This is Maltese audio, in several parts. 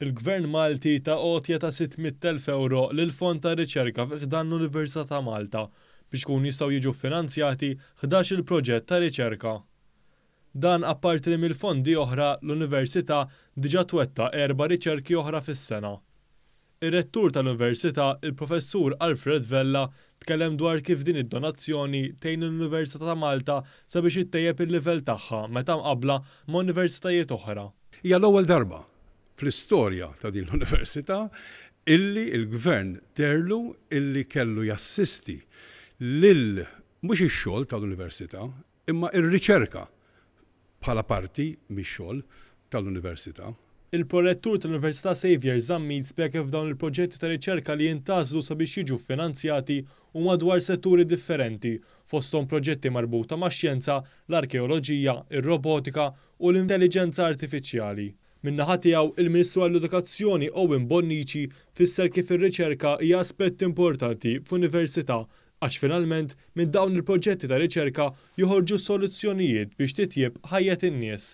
Il-Gvern Malti ta għotja ta' 600,000 ewro lill-Fond ta' Riċerka fi ħdan l-Università ta' Malta biex ikun jistgħu jiġu ffinanzjati ħdax-il proġett ta' riċerka. Dan apparti li mill-fondi oħra l-Università diġà twettaq erba' riċerki oħra fis-sena. Ir-Rettur tal-Università, il-Professur Alfred Vella, tkellem dwar kif din id-donazzjoni tgħin lill-Università ta' Malta sabiex ittejjeb il-livell tagħha meta mqabbla ma' universitajiet oħra. Hija l-ewwel darba fl-istorja ta' din l-Università illi l-Gvern deherlu illi kellu jassisti lil mhux ix-xogħol tal-Università Imma r-riċerka bħala parti mix-xogħol tal-Università. Il-Prorettur tal-Università Saviour Zammit spjega kif dawn il-proġetti ta' riċerka li jintgħażlu sabiex jiġu ffinanzjati huma dwar setturi differenti, fosthom proġetti marbuta max-xjenza, l-arkeoloġija, ir-robotika u l-intelliġenza artifiċjali. Min-naħa tiegħu, il-Ministru għall-Edukazzjoni Owen Bonnici fisser kif ir-riċerka hija aspett importanti f'Università għax finalment minn dawn il-proġetti ta' riċerka joħorġu soluzzjonijiet biex titjieb ħajjet in-nies.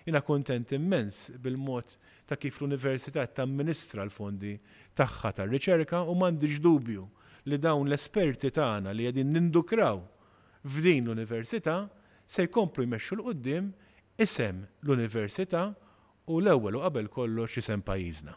Jiena kuntent immens bil-mod ta' kif l-Università qed tamministra l-fondi tagħha tar-riċerka u m'għandix dubju li dawn l-esperti tagħna li qegħdin nindukraw f'din l-Università se jkomplu jmexxu 'l quddiem isem l-Università u l-ewwel u qabel kollox isem pajjiżna.